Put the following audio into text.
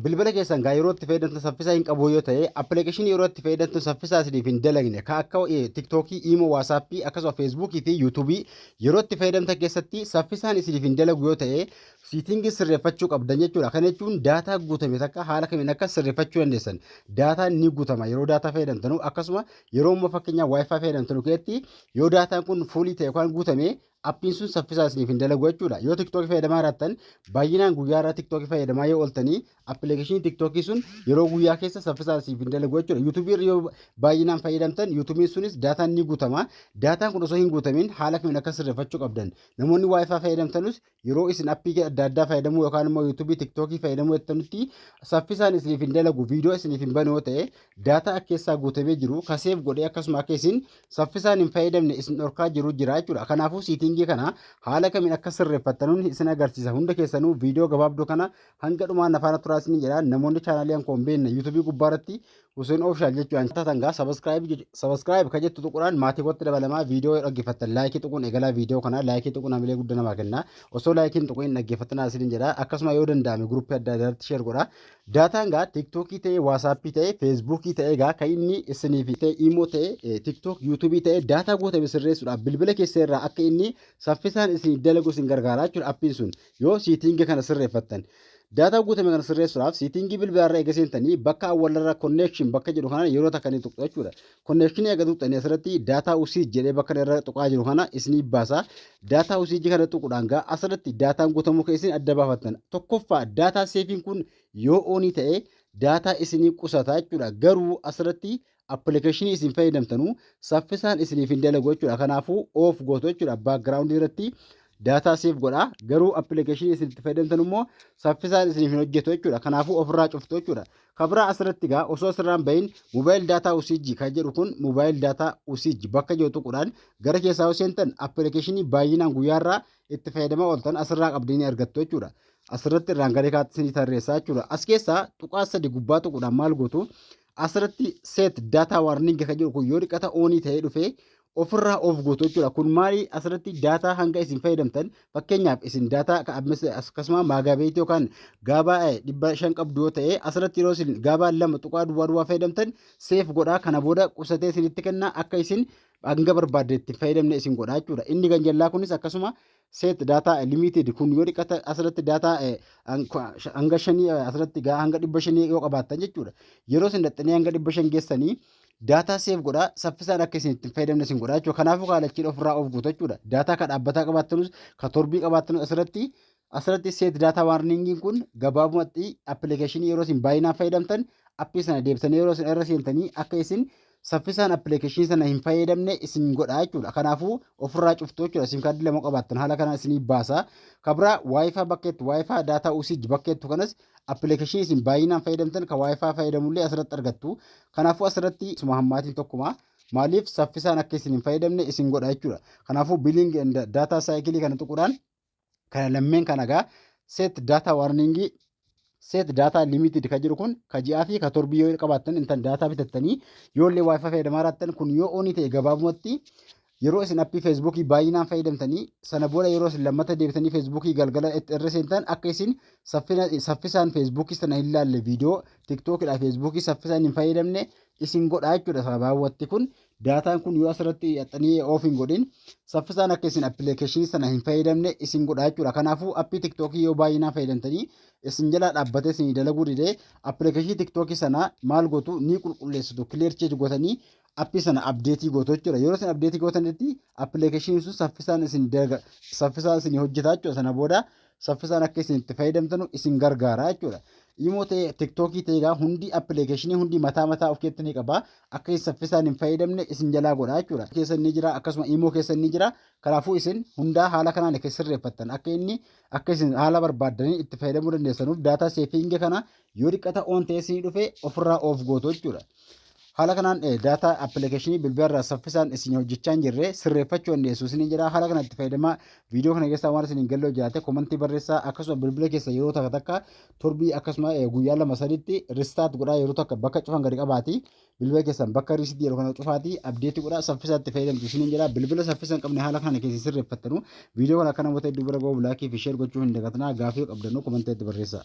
Bilbila keessan gaa yeroo itti fayyadamtan saffisaa hin qabuu yoo ta'e appilikeeshinii yeroo itti fayyadamtan saffisaa isiniif hin dalagne ka akka tiktookii, iimoo, waasaappii akkasuma feesbuukii fi yuutuubii yeroo itti fayyadamtan keessatti saffisaan isiniif hin dalagu yoo ta'e siitingii sirreeffachuu qabdan jechuudha. Kana jechuun daataa guutame takka haala kamiin akka sirreeffachuu dandeessan daataan ni guutama yeroo daataa fayyadamtanu akkasuma yeroo immoo fakkeenyaa waayifaa fayyadamtanu keessatti yoo daataan kun fuulii ta'e yookaan guutame appiin sun saffisaa isiniif hin dalagu jechuudha. Yoo tiktookii fayyadamaa jiraattan baay'inaan guyyaa irraa tiktookii fayyadamaa yoo ooltanii appilikeeshinii tiktookii sun yeroo guyyaa keessa saffisaa isiniif hin dalagu jechuudha. Yuutuubii irra yoo baay'inaan fayyadamtan yuutuubiin sunis daataan ni guutama. Daataan kun osoo hin guutamin haala kamiin akka sirreeffachuu qabdan. Namoonni waayifaa fayyadamtanus yeroo isin appii adda addaa fayyadamuu yookaan immoo yuutuubii tiktookii fayyadamuu jettanitti saffisaan isiniif hin dalagu viidiyoo isiniif hin bane yoo ta'e daataa akka keessaa guutamee jiru kaseef godhee akkasuma akka isin saffisaan hin fayyadamne isin dhorkaa jiru jira jechuudha. Kanaafuu siitingii kana haala kamiin akka sirreeffattanuun isin agarsiisa. Hunda keessanuu viidiyoo gabaabduu kana hanga dhumaa nafaana turaa isin jedha. Namoonni chaanaalii hankoo hin beekne yuutuubii gubbaa irratti Huseen Oofishaal jechuudhaan taatan gaa sabaskiraayib ka jettu tuquudhaan maatii kootti dabalamaa viidiyoo yoo dhaggeeffattan laayikii tuquun eegalaa viidiyoo kana laayikii tuquun hamilee guddaa namaa kenna. Osoo laayikiin tuquun hin dhaggeeffattan isin jedha. Akkasuma yoo danda'ame guruppii adda addaatti sheer godha. Daataan gaa tiktookii ta'ee waasaappii ta'ee feesbuukii ta'ee gaa kan inni isiniif ta'e imoo ta'e tiktook yuutuubii ta'e daataa guutame sirreessuudhaaf bilbila keessa irraa akka inni saffisaan isin dalagu isin gargaara jechuudha appiin sun yoo siitingi kana sirreeffattan. Daataa guutame kana sirreessuudhaaf siitingii bilbilaarra eega seentanii bakka awwalarra connection bakka jedhu kanaan yeroo takka ni tuqxu jechuudha. Konneekshinii akka tuqxanii asirratti daataa usiij jedhee bakka irra tuqaa jiru kana isinii baasa. Daataa usiijii kana tuquudhaan gaa asirratti daataan guutamuu kee isin adda baafattan. Tokkoffaa daataa seefiin kun yoo oonii ta'e daataa isinii qusata jechuudha. Garuu asirratti appilikeeshinii isin fayyadamtanu saffisaan isiniif hin dalagu jechuudha. Kanaafuu oof gootu jechuudha. Baakgiraawundii irratti daataa seef godha. Garuu appilikeeshinii isin itti fayyadamtan immoo saffisaan isiniif hin hojjetu jechuudha. Kanaafuu ofirraa cuftu jechuudha. Kabraa asirratti gaa osoo asirraan bahin mobile data usage kan jedhu kun mobile data usage bakka jiru tuquudhaan gara keessaa yoo seentan appilikeeshinii baay'inaan guyyaarraa itti fayyadamaa ooltan asirraa qabdanii argattu jechuudha. Asirratti irraan gara kaatti isinii tarreessaa jechuudha. As keessaa tuqaa sadi gubbaa tuquudhaan maal gootu asirratti set data warning kan jedhu kun yoo dhiqata oonii ta'ee dhufee ofirraa of gootu jechuudha. Kun maali asirratti daataa hanga isin fayyadamtan fakkeenyaaf isin daataa akkasuma maagaabeetii yookaan gaabaa dhibba shan qabdu yoo ta'e asirratti yeroo isin gaabaa lama tuqaa duwwaa duwwaa fayyadamtan seef godhaa kana booda qusatee isinitti kenna akka isin hanga barbaadde itti fayyadamne isin godhaa jechuudha. Inni ganjallaa kunis akkasuma set data limited kun yoo dhiqata asirratti data hanga shanii asirratti gaa hanga dhibba shanii yoo qabaattan jechuudha yeroo isin dhaxxanii hanga dhibba shan geessanii daataa seef godhaa saffisaan akka isin ittiin fayyadamne isin godhaa jechuudha kanaafuu kaalachiin ofirraa of guuta jechuudha daataa ka dhaabbataa qabaattanus ka torbii qabaattanus asirratti asirratti seet daataa waarningiin kun gabaabumatti appilikeeshinii yeroo isin baay'inaan fayyadamtan appii sana deebisanii yeroo isin irra seentanii akka isin saffisaan appilikeeshinii sana hin fayyadamne isin godha jechuudha. Kanaafuu ofirraa cuftu jechuudha. Sim kaardii lama qabaattan haala kanaan isinii baasa. Kabraa waayifaa bakka itti waayifaa daataa usage bakka itti kanas appilikeeshinii isin baay'inaan fayyadamtan kan waayifaa fayyadamullee asirratti argattu. Kanaafuu asirratti suma hammaatiin tokkuma. Maaliif saffisaan akka isin hin fayyadamne isin godha jechuudha. Kanaafuu biiliing daataa saayikilii kana tuquudhaan Kana lammeen kana egaa set data warning set data limited ka jiru kun ka ji'aa fi ka torbii yoo qabaattan intan data bitattanii yoo illee wifi fayyadamaa jiraattan kun yoo onii ta'e gabaabumatti yeroo isin appii feesbuukii baay'inaan fayyadamtanii sana booda yeroo isin lammata deebitanii feesbuukii galgala itti irra seentan akka isin saffisaan feesbuukii sana hin laalle viidiyoo tiktookidha feesbuukii saffisaan hin fayyadamne isin godha jechuudha sababaawwatti kun Daataan kun yoo asirratti hidhattanii oof hin godhin saffisaan akka isin appilikeeshinii sana hin fayyadamne isin godha jechuudha. Kanaafuu appii tiktookii yoo baay'inaan fayyadamtanii isin jalaa dhaabbatee isin dalaguu didee appilikeeshinii tiktookii sana maal gootu ni qulqulleessitu kileer cheek gootanii appii sana abdeetii gootu jechuudha. Yeroo isin abdeetii gootanitti appilikeeshiniin sun saffisaan isin dalaga saffisaan isin hojjetaa jechuudha. Sana booda saffisaan akka isin itti fayyadamtanu isin gargaara jechuudha. Imoo ta'e tiktookii ta'e egaa hundi appilikeeshinii hundi mataa mataa of keessatti ni qaba. Akka isin saffisaan hin fayyadamne isin jalaa godha jechuudha. Keessan ni jira akkasuma imoo keessan ni jira. Kanaafuu isin hundaa haala kanaan akka sirreeffattan akka inni akka isin haala barbaaddanii itti fayyadamuu dandeessanuuf daataa seefiingi kana Yoo xiqqata on ta'ee isinii dhufe ofirraa off gootu jechuudha. Haala kanaan daataa appilikeeshinii bilbilarraa saffisaan isin hojjechaa hin jirre sirreeffachuu dandeessu isiniin jedha. Haala kanatti fayyadamaa viidiyoo kana keessaa waan isiniin galloo jiraate komantii barreessaa akkasuma bilbila keessa yeroo takka takka torbii akkasuma guyyaa lama sadiitti ristaat godhaa yeroo takka bakka cufan gadi qabaati. Bilbila keessan bakka riisitti yeroo kana cufaati abdeetti godhaa saffisaatti fayyadamtu isiniin jedha. Bilbila saffisa hin qabne haala kana keessa sirreeffattanu viidiyoo kana akka namoota hedduu bira gahuuf laakii fi sheer gochuu hin dagatinaa gaafii qabdannu komanteetti barreessaa.